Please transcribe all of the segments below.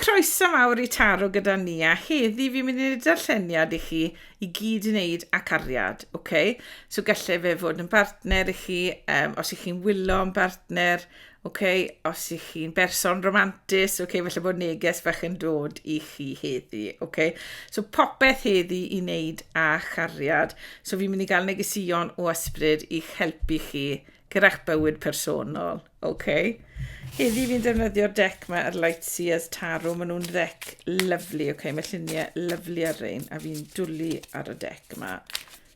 Croeso mawr i Taro gyda ni a heddi fi'n mynd i wneud darlleniad i chi i gyd i wneud â cariad, ok? So gallai fe fod yn bartner i chi, um, os ych chi'n wylo yn bartner, ok? Os ych chi'n berson romantis, ok? Felly bod neges bach yn dod i chi heddi, ok? So popeth heddi i wneud â chariad. So fi'n mynd i gael negesion o ysbryd i'ch helpu chi Gyrra'ch bywyd personol. Ok. Heddi fi'n defnyddio'r deck ma ar Lightseers Tarot. Maen nhw'n ddeck lyflu. Ok, mae lluniau lyflu ar rein. A fi'n dwlu ar y deck ma.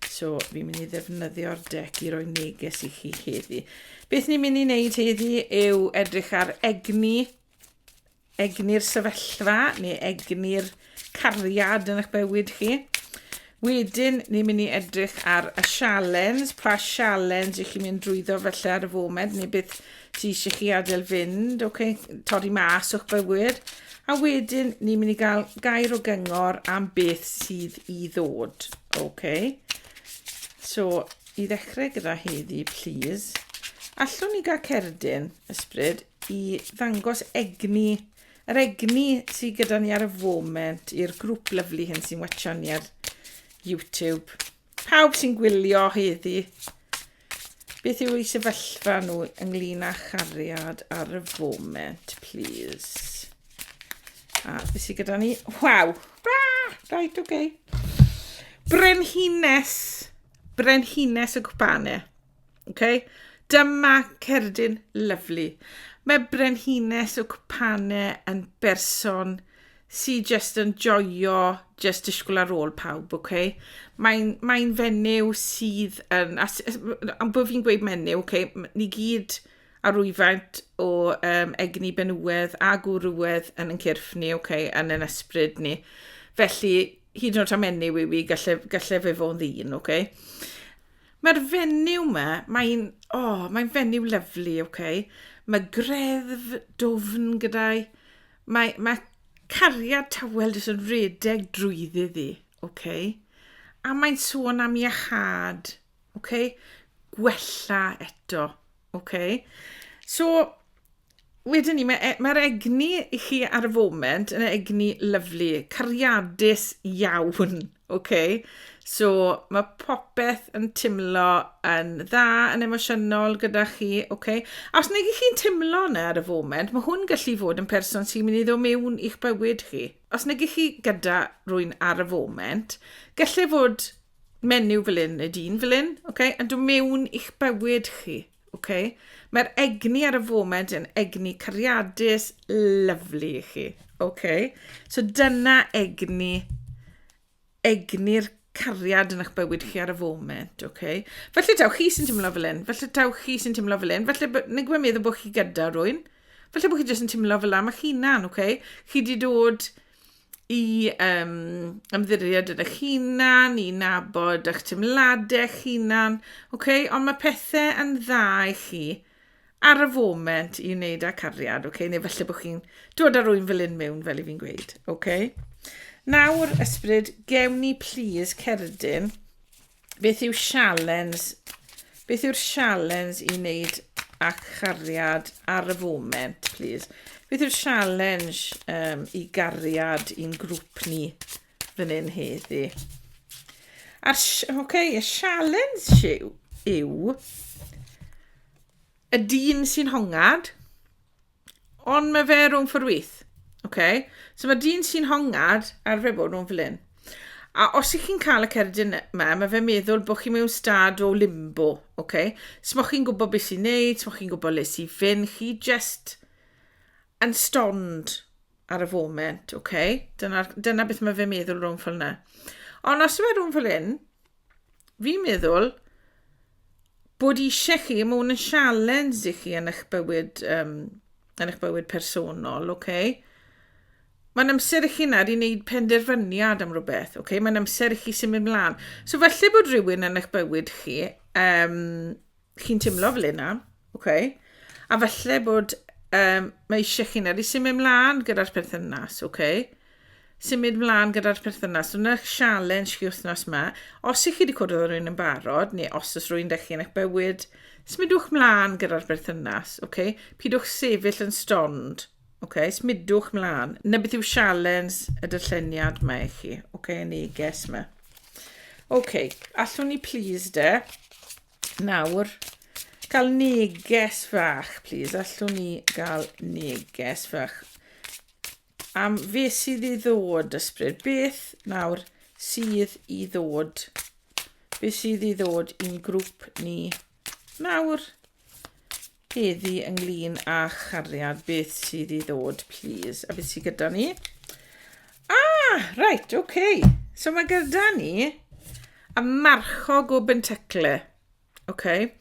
So, fi'n mynd i ddefnyddio'r deck i roi neges i chi heddi. Beth ni'n mynd i wneud heddi yw edrych ar egni Egni'r sefyllfa neu egni'r cariad yn eich bywyd chi. Wedyn, ni'n mynd i edrych ar y sialens, pa sialens i chi'n mynd drwyddo felly ar y foment, neu beth sy'n eisiau chi adael fynd, okay? torri mas o'ch bywyd. A wedyn, ni'n mynd i gael gair o gyngor am beth sydd i ddod. Okay. So, I ddechrau gyda heddi, plîs, allwn ni gael cerdyn, ysbryd, i ddangos egni, yr egni sydd gyda ni ar y foment i'r grŵp lyflu hyn sy'n watchan ni ar YouTube. Pawb sy'n gwylio heddi, beth yw ei sefyllfa nhw ynglyn â chariad ar y foment, plîs. A beth sydd gyda ni? Waw! Right, oce. Okay. Brenhines! Brenhines y Gwpane. Okay? Dyma cerdyn lyflu. Mae Brenhines y Gwpane yn berson sy'n just yn joio just disgwyl ar ôl pawb, okay? Mae'n mae fenyw sydd yn... A, a bod fi'n gweud menyw, okay, ni gyd a rwyfaint o um, egni benywedd a gwrywedd yn yn cyrff ni, okay, yn yn ysbryd ni. Felly, hyd yn oed am enw i fi, gallai, gallai fe fod yn ddyn, oce? Okay? Mae'r fenyw yma, mae'n, o, oh, mae'n fenyw lyflu, oce? Okay? Mae greddf dofn gyda'i, mae, mae cariad tawel jyst yn redeg drwyddi ddi, oce? Okay? A mae'n sôn am iachad, oce? Okay? Gwella eto, oce? Okay? So, Wedyn ni, mae e, mae'r egni i chi ar y foment yn egni lyflu, cariadus iawn, oce? So, mae popeth yn timlo yn dda, yn emosiynol gyda chi, oce? A os nag chi'n timlo yna ar y foment, mae hwn gallu fod yn person sy'n mynd i ddod mewn i'ch bywyd chi. Os nag chi gyda rwy'n ar y foment, gallai fod menyw fel un neu dyn fel un, oce? Yn dod mewn i'ch bywyd chi. Ok, mae'r egni ar y foment yn egni cariadus lyflu i chi. Ok, so dyna egni, egni'r cariad yn eich bywyd chi ar y foment, ok? Felly taw chi sy'n teimlo fel un, felly taw chi sy'n teimlo fel un, felly neu gwybod meddwl bod chi gyda rwy'n, felly bod chi jyst yn teimlo fel am eich hunan, ok? Chi wedi dod i um, ymddiried yn eich hunan, i nabod eich teimladau eich hunan, okay? ond mae pethau yn dda i chi ar y foment i wneud â cariad, okay? neu felly bod chi'n dod ar rwy'n fel un mewn, fel i fi'n gweud. Okay? Nawr, ysbryd, gewn ni please cerdyn Beth yw sialens? Beth yw'r sialens i wneud â chariad ar y foment, please? Beth yw'r sialens um, i gariad i'n grŵp ni fan hyn heddi? A'r, okay, y sialens yw, yw y dyn sy'n hongad, Ond mae fe rhwng ffordd wyth. Oce? So mae dyn sy'n hongad ar fe bod nhw'n fel hyn. A os ych chi'n cael y cerdyn yma, mae fe meddwl bod chi mewn stad o limbo, oce? Smo chi'n gwybod beth sy'n neud, smo chi'n gwybod les i fynd, chi just yn stond ar y foment, oce? Dyna, dyna beth mae fe meddwl rhwng fel yna. Ond os yw e rhwng fel hyn, Fi'n meddwl bod eisiau chi, mae hwn yn sialens i chi yn eich bywyd, um, yn eich bywyd personol, oce? Okay? Mae'n amser i chi nad i wneud penderfyniad am rhywbeth, oce? Okay? Mae'n amser i chi symud mlaen. So falle bod rhywun yn eich bywyd chi um, chi'n teimlo fel yna, okay? a falle bod um, mae eisiau chi nawr i symud mlaen gyda'r perthynas, okay? symud mlaen gyda'r perthynas. Dyna sialens chi wythnos yma. Os ych chi wedi cwrdd â rhywun yn barod, neu os oes rhywun dych chi yn eich bywyd, smidwch mlaen gyda'r berthynas, okay? pidwch sefyll yn stond, okay? smidwch mlaen. Na beth yw sialens y dyllyniad mae i chi, okay? y neges yma. OK, allwn ni please de, Nawr, cael neges fach, please. Allwn ni gael neges fach. Am fe sydd i ddod, ysbryd. Beth nawr sydd i ddod? Beth sydd i ddod i'n grŵp ni nawr? Heddi ynglyn â chariad, beth sydd i ddod, please? A beth sydd gyda ni? Ah, right, okay. So mae gyda ni y marchog o Bentacle. Okay.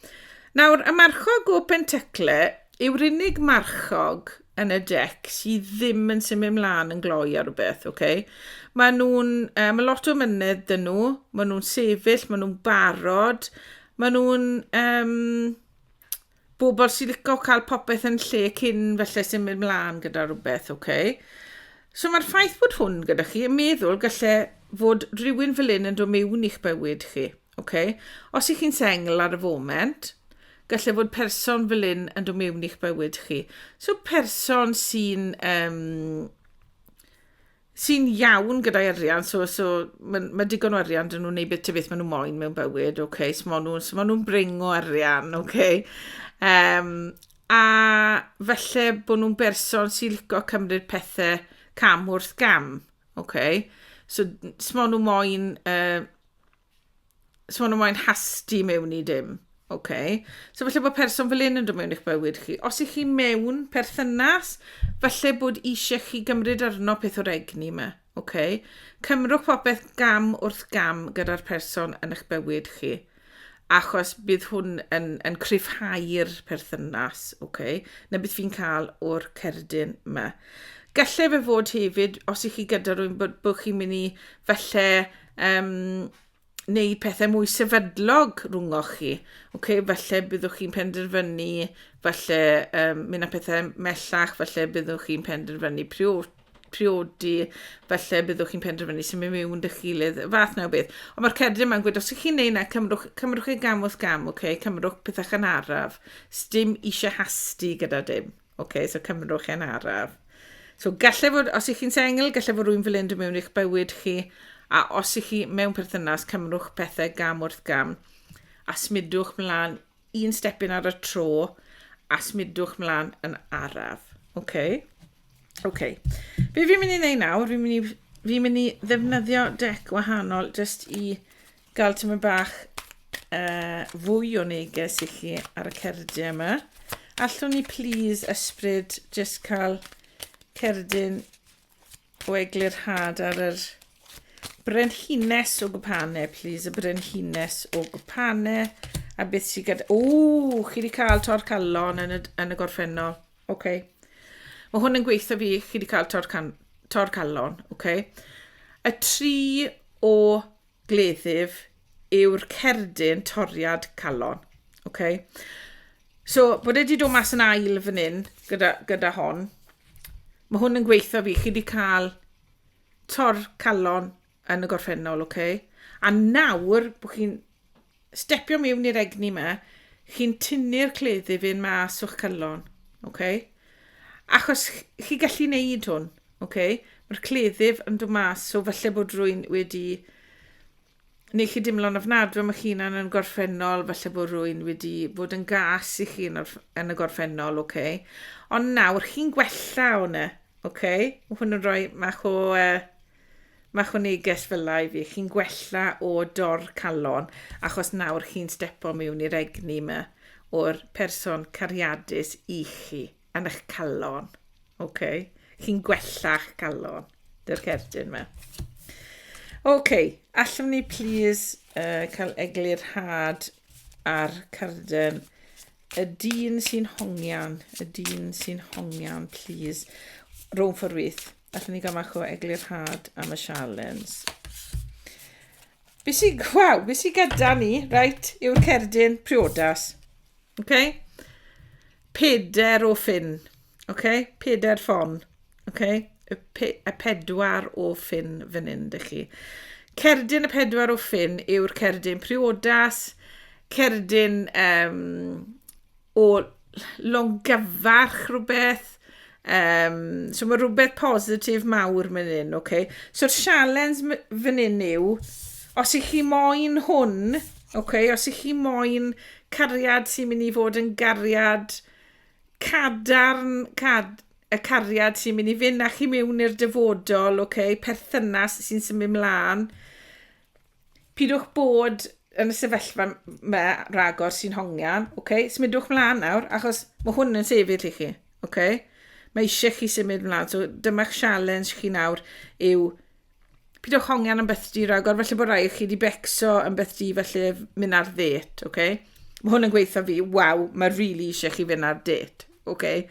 Nawr, y marchog o Bentacle yw'r unig marchog yn y dec sydd ddim yn symud mlaen yn gloi ar rhywbeth, oce? Okay? Mae nhw'n, um, mae lot o mynedd dyn nhw, mae nhw'n sefyll, mae nhw'n barod, mae nhw'n, um, bobl sy'n licio cael popeth yn lle cyn felly symud mlaen gyda rhywbeth, oce? Okay? So mae'r ffaith bod hwn gyda chi yn meddwl gallai fod rhywun fel un yn dod mewn i'ch bywyd chi, oce? Okay? Os ych chi'n sengl ar y foment, gallai fod person fel un yn dod mewn i'ch bywyd chi. So person sy'n um, sy'n iawn gyda'i arian, so, so mae ma digon o arian dyn nhw'n neud beth beth maen nhw moyn mewn bywyd, oce, okay, so maen nhw'n so ma nhw bring o arian, oce. Okay. Um, a felly bod nhw'n berson sy'n licio cymryd pethau cam wrth gam, oce. Okay. So, so maen nhw moyn uh, sôn am moyn hasti mewn i dim. Okay. So falle bod person fel un yn dod mewn i'ch bywyd chi. Os ych chi mewn perthynas, falle bod eisiau chi gymryd arno peth o'r egni yma. Okay. Cymrwch popeth gam wrth gam gyda'r person yn eich bywyd chi. Achos bydd hwn yn, yn cryfhau'r perthynas, okay, na beth fi'n cael o'r cerdyn yma. Gallai fe fod hefyd, os ych chi gyda rhywun, bod, bod chi'n mynd i falle um, neu pethau mwy sefydlog rhwngwch chi. Okay, falle byddwch chi'n penderfynu, falle um, mynd â pethau mellach, falle byddwch chi'n penderfynu priod, priodi, falle byddwch chi'n penderfynu sy'n mynd mewn dy gilydd, fath na o beth. Ond mae'r cerdyn yma'n gwybod, os ych chi'n neud na, cymrwch, cymrwch ei gam wrth gam, okay? cymrwch pethau chan araf, stym eisiau hasti gyda dim. OK, so cymerwch e'n araf. So gallai fod, os ych chi'n sengl, gallai fod rwy'n fel unrhyw mewn i'ch bywyd chi, a os ych chi mewn perthynas, cymrwch pethau gam wrth gam, a smidwch mlaen un stepyn ar y tro, a smidwch mlaen yn araf. OK? OK. Be fi'n mynd i wneud nawr, fi'n mynd i, fi mynd i ddefnyddio dec wahanol jyst i gael tymor bach uh, fwy o neges i chi ar y cerdyn yma. Allwn ni please ysbryd jyst cael cerdyn o eglurhad ar yr brenhines o gwpane, please, y brenhines o gwpane, a beth sy'n gyda... O, chi wedi cael tor calon yn y, yn y gorffennol. Oce. Okay. Mae hwn yn gweithio fi, chi wedi cael tor, can, tor calon. Oce. Okay. Y tri o gleddyf yw'r cerdyn toriad calon. Okay. So, bod wedi dod mas yn ail fan hyn gyda, gyda hon. Mae hwn yn gweithio fi. Chi wedi cael tor calon yn y gorffennol, okay? A nawr, bod chi'n stepio miwn i'r egni ma, chi'n tynnu'r cleddyf un mas o'ch calon, okay? Achos chi gallu neud hwn, okay? Mae'r cleddyf yn dod mas, so falle bod rwy'n wedi neu chi dimlo'n ofnadwy am eich hunan yn gorffennol, falle bod rwy'n wedi bod yn gas i chi yn y gorffennol, oce? Okay? Ond nawr, chi'n gwella hwnna, oce? Okay? Mae hwn yn rhoi mach o uh, Mae chw neges fela i fi, chi'n gwella o dor calon achos nawr chi'n stepo miwn i'r egni yma o'r person cariadus i chi yn eich calon. Ok, chi'n gwella'ch calon, dy'r cerdyn yma. Ok, allwn ni plîs uh, cael eglur had ar carden y dyn sy'n hongian, y dyn sy'n hongian, plîs, rhwng fforwyth. Allwn ni gael mach o eglurhad am y sialens. Be sy'n... Waw, be sy'n gyda ni, reit, yw'r cerdyn priodas. Oce? Okay? Peder o ffyn. Oce? Okay? Peder ffon. Oce? Okay? Y, pe y pedwar o ffyn fan hyn, dych chi. Cerdyn y pedwar o ffyn yw'r cerdyn priodas, cerdyn um, o longyfarch rhywbeth. Um, so mae rhywbeth positif mawr mynd hyn, oce? Okay? So'r sialens fan hyn yw, os i chi moyn hwn, oce, okay? os i chi moyn cariad sy'n mynd i fod yn gariad cadarn, cad, y cariad sy'n mynd i fynd â chi mewn i'r dyfodol, oce, okay? perthynas sy'n symud mlaen, Pidwch bod yn y sefyllfa me ragor sy'n hongian, oce? Okay? Symudwch mlaen nawr, achos mae hwn yn sefyll i chi, oce? Okay? Mae eisiau chi symud mlaen, so dyma'ch sialens chi nawr yw pidwch hongian am beth di ragor, felly bod rai chi wedi becso am beth di felly mynd ar ddet, oce? Okay? Mae hwn yn gweithio fi, waw, mae rili really eisiau chi fynd ar ddet, oce? Okay?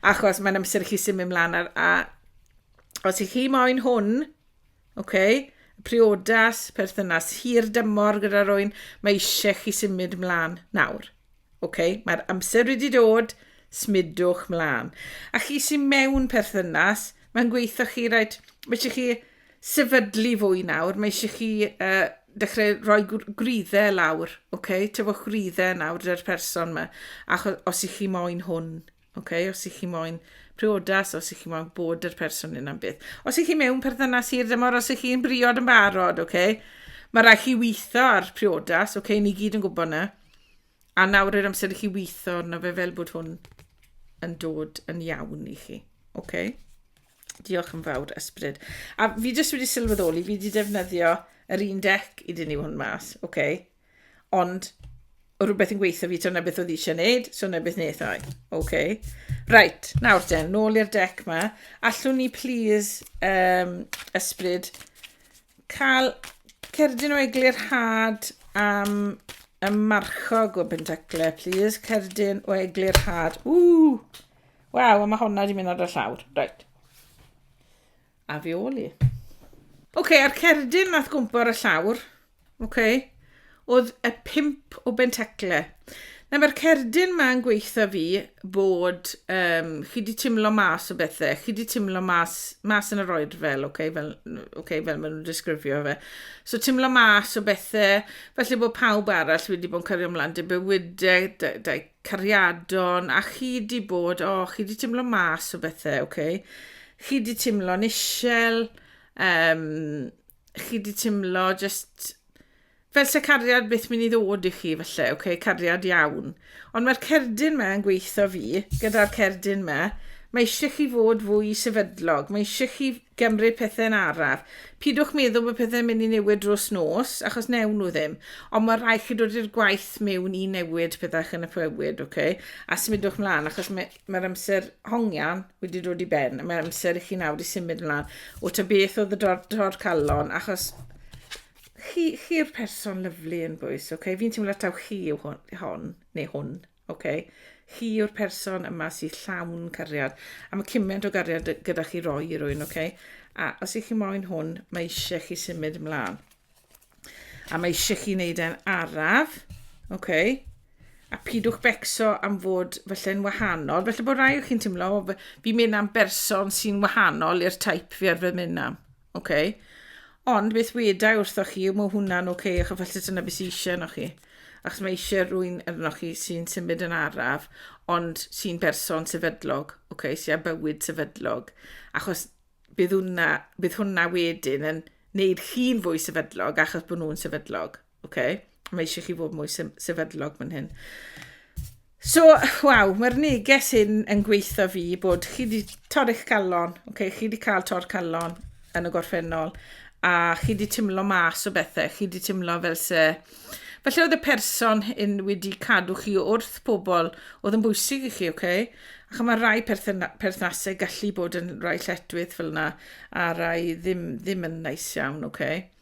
Achos mae'n amser i chi symud mlaen ar, a os i chi moyn hwn, Oce, priodas, perthynas hir dymor gyda rwy'n, mae eisiau chi symud mlaen nawr. Oce, mae'r amser wedi dod, smudwch mlaen. A chi sy'n mewn perthynas, mae'n gweithio chi, rhaid, mae eisiau chi sefydlu fwy nawr, mae eisiau chi uh, dechrau rhoi gwriddau lawr, oce, tyfwch gwriddau nawr dy'r person yma, achos os i chi moyn hwn Okay, os ych chi moyn priodas, os ych chi moyn bod yr person yna'n beth. Os ych chi mewn perthynas i'r dymor, os ych chi'n briod yn barod, okay? mae rhaid chi weithio ar priodas, okay? ni gyd yn gwybod na. A nawr yr amser i chi weithio arno fe fel bod hwn yn dod yn iawn i chi. Okay? Diolch yn fawr, ysbryd. A fi jyst wedi sylweddoli, fi wedi defnyddio yr un dec i dynnu hwn mas, okay? Ond, o rhywbeth yn gweithio fi, so na beth oedd eisiau gwneud, so na beth wnaeth o'i. OK. Right, nawr te, nôl i'r dec ma. Allwn ni, please, um, ysbryd, cael cerdyn o eglurhad am y marchog o Bentacle, please. Cerdyn o eglurhad. Ww! Waw, a mae honna wedi mynd ar y llawr. Right. A fi ôl i. Ok, a'r cerdyn nath gwmpo ar y llawr, ok, oedd y pimp o bentecle. Na, mae'r cerdyn ma'n gweitha fi bod um, chi di timlo mas o bethau, chi di timlo mas, mas yn yr oed fel, ok, fel, okay, fel maen nhw'n disgrifio fe. So timlo mas o bethau, felly bod pawb arall wedi bod yn cario ymlaen dy bywydau, dy, dy, cariadon, a chi di bod, o, chi di timlo mas o bethau, oce? Okay? Chi di timlo'n isel, um, chi di timlo just fel se cariad beth mynd i ddod i chi felly, oce, okay, cariad iawn. Ond mae'r cerdyn me yn gweithio fi, gyda'r cerdyn me, mae eisiau chi fod fwy sefydlog, mae eisiau chi gymryd pethe'n araf. Pidwch meddwl bod pethe'n mynd i newid drws nos, achos newn nhw ddim. Ond mae rhaid chi dod i'r gwaith mewn i newid pethau yn y pywyd, ok? A symudwch mlaen, achos mae'r mae amser hongian wedi dod i ben. Mae amser i chi nawr i symud mlaen. O ta beth oedd y dor, dor calon, achos chi'r chi person lyflu yn bwys, ok? Fi'n teimlo taw chi yw hwn, hon, neu hwn. Oce. Chi yw'r person yma sydd llawn cariad. A mae cymaint o gariad gyda chi roi i rwy'n, oce? A os ych chi moyn hwn, mae eisiau chi symud ymlaen. A mae eisiau chi wneud e'n araf, oce? A pidwch becso am fod falle'n wahanol. Felly bod rai o chi'n teimlo, fi'n mynd am berson sy'n wahanol i'r taip fi arfer mynd am. Oce. Okay. Ond beth weda i wrthoch chi, mae hwnna'n oce, okay, achos felly dyna beth sy'n eisiau yno chi. Achos mae eisiau rwy'n yno chi sy'n symud yn araf, ond sy'n berson sefydlog, oce, okay, sy'n bywyd sefydlog. Achos bydd hwnna, bydd hwnna wedyn yn wneud chi'n fwy sefydlog achos bod nhw'n sefydlog. Oce, mae eisiau chi fod mwy sefydlog fan hyn. So, waw, mae'r neges hyn yn gweithio fi bod chi wedi torri'ch calon, okay? chi wedi cael tor calon yn y gorffennol, a chi wedi tymlo mas o bethau, chi wedi tymlo fel se... Felly oedd y person yn wedi cadw chi wrth pobl oedd yn bwysig i chi, oce? Okay? Ac mae rhai perthnasau gallu bod yn rhai lletwydd fel yna, a rhai ddim, ddim yn neis iawn, oce? Okay?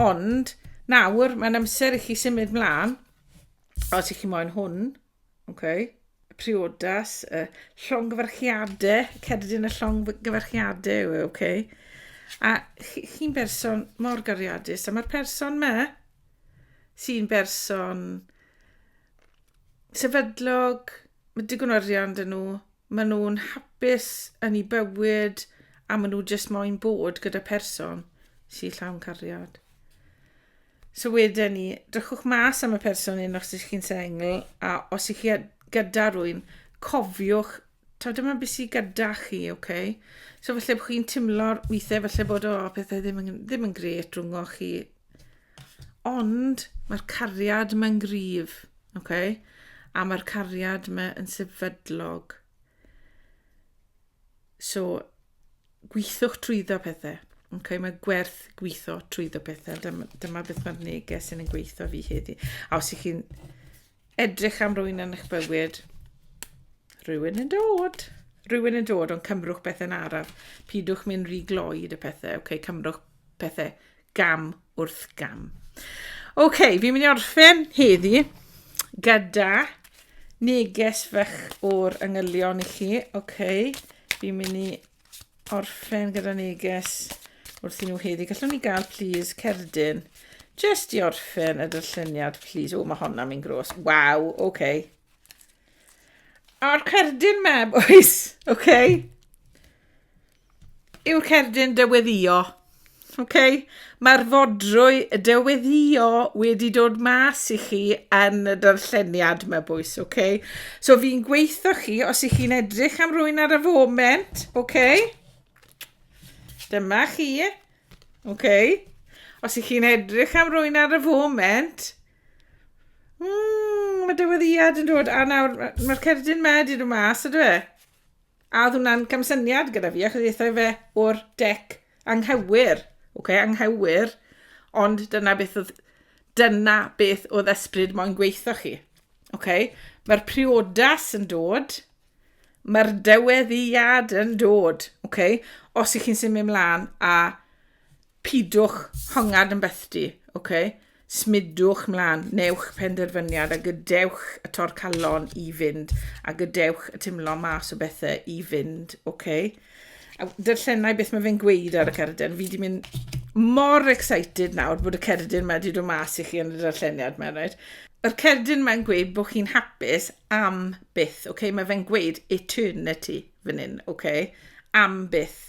Ond, nawr, mae'n amser i chi symud mlaen, os ych chi moyn hwn, okay. priodas, y llongyfarchiadau, cerdyn y llongyfarchiadau yw e, okay. A chi'n chi berson mor gariadus, a mae'r person me sy'n berson sefydlog, Mae digon o arian dyn nhw. Maen nhw'n hapus yn ei bywyd a maen nhw jyst moyn bod gyda person sy'n llawn cariad. So wedyn ni, drychwch mas am y person hyn os ydych chi'n sengl a os ydych chi gyda rwy'n, cofiwch taw dyma beth sydd gyda chi, oce? Okay? So felly bod chi'n timlo weithiau felly bod o oh, pethau ddim yn, ddim yn gret rhwng o chi. Ond mae'r cariad mae'n gryf, ok? A mae'r cariad mae yn sefydlog. So, gweithwch trwyddo pethau. Ok, mae gwerth gweithio trwyddo pethau. Dyma, dyma beth mae'r neges yn yn gweithio fi heddi. A os ych chi'n Edrych am rwy'n yn eich bywyd. Rwy'n yn dod. Rwy'n yn dod, ond cymrwch pethau'n araf. Pidwch mynd rhy gloi y pethau. OK, cymrwch pethau gam wrth gam. OK, fi'n mynd i orffen heddi gyda neges fach o'r yngylion i chi. OK, fi'n mynd i orffen gyda neges wrth i nhw heddi. Gallwn ni gael, please, cerdyn. Just i orffen y dyllyniad, please. O, mae honna mi'n gros. Waw, oce. Okay. A'r cerdyn me, boys, oce? Okay? Yw'r cerdyn dyweddio Ok, mae'r fodrwy de weddio wedi dod mas i chi yn y darlleniad mae bwys, ok? So fi'n gweithio chi, os ych chi'n edrych am rwy'n ar y foment, ok? Dyma chi, ok? Os ych chi'n edrych am rwy'n ar y foment, mm, mae dyweddiad yn dod, a nawr mae'r cerdyn ma wedi dod mas, ydw e? A oedd hwnna'n gamsyniad gyda fi, achos ddethai fe o'r dec anghywir, ok, anghywir, ond dyna beth oedd, dyna beth oedd ysbryd moyn gweithio chi. Ok, mae'r priodas yn dod, mae'r dyweddiad yn dod, ok, os ych chi'n symud ymlaen a Pidwch hongad yn bethdy, ok? Smudwch mlan, newch penderfyniad a gydewch y torcallon i fynd a gydewch y timlo mas o bethau i fynd, ok? A darllenau beth mae fe'n gweud ar y cerdyn. Fi di mynd mor excited nawr bod y cerdyn mae wedi dod mas i chi yn y darlleniad mae'n rhaid. Yr cerdyn mae'n gweud bod chi'n hapus am byth, ok? Mae fe'n gweud eternity fan hyn, ok? Am byth.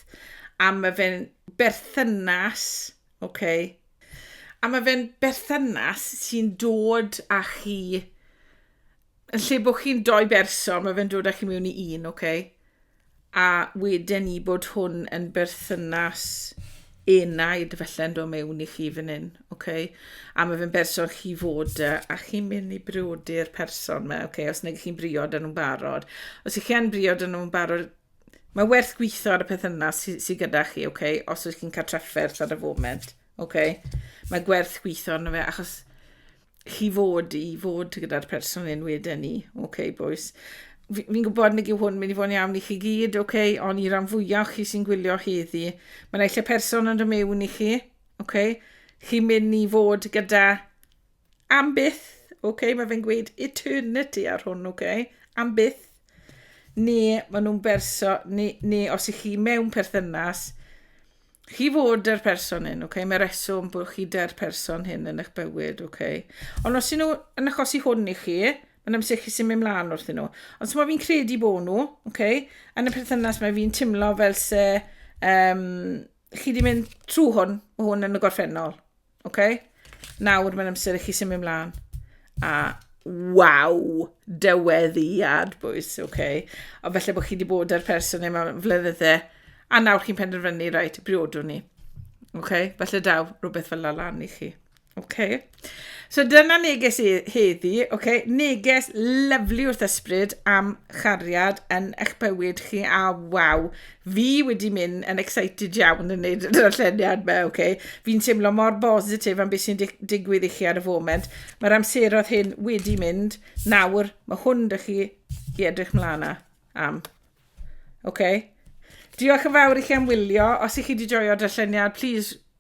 A mae fe'n berthynas, ok, a mae fe'n berthynas sy'n dod â chi, yn lle bod chi'n doi berson, mae fe'n dod â chi mewn i un, ok, a wedyn ni bod hwn yn berthynas enaid felle'n dod mewn i chi fan hyn, ok, a mae fe'n berson chi fod y, a chi'n mynd i briodi'r person yma, ok, os neu chi'n briod yn nhw'n barod. Os ych chi'n briod yn nhw'n barod, Mae werth gweithio ar y peth yna sydd sy gyda chi, oce? Okay? Os ydych chi'n cael trafferth ar y foment, oce? Okay? Mae gwerth gweithio arno fe, achos chi fod i fod gyda'r person yn wedyn ni, oce, okay, boys? Fi'n gwybod nid yw hwn mynd i fod yn iawn i chi gyd, oce? Okay? Ond i ran fwyaf chi sy'n gwylio heddi, mae yna eisiau person yn dod mewn i chi, oce? Okay? Chi'n mynd i fod gyda Am byth, ok, mae fe'n gweud eternity ar hwn, ok, am byth, ni, maen nhw'n berso, ni, ni, os ych chi mewn perthynas, chi fod yr person hyn, ok, mae reswm bod chi da'r person hyn yn eich bywyd, ok. Ond os ydyn nhw yn achosi hwn i chi, mae'n amser chi sy'n mynd mlaen wrth nhw. Ond so mae fi'n credu bod nhw, ok, yn y perthynas mae fi'n timlo fel se, um, chi wedi mynd trwy hwn, mae hwn yn y gorffennol. OK? Nawr mae'n amser i chi symud ymlaen. A waw, dyweddiad bwys, OK? O felly bod chi wedi bod ar person neu mewn flynyddau, a nawr chi'n penderfynu, rhaid, briodwn ni. OK? Felly daw rhywbeth fel lan i chi. OK? So dyna neges i heddi, OK? Neges lyflu wrth ysbryd am chariad yn eich bywyd chi, a waw, fi wedi mynd yn excited iawn yn neud y darlleniad ma, oce. Okay. Fi'n teimlo mor bositif am beth sy'n dig digwydd i chi ar y foment. Mae'r amseroedd hyn wedi mynd. Nawr, mae hwn dych chi i edrych mlaen a, am. Oce. Okay. Diolch yn fawr i chi am wylio. Os i chi wedi joio darlleniad, please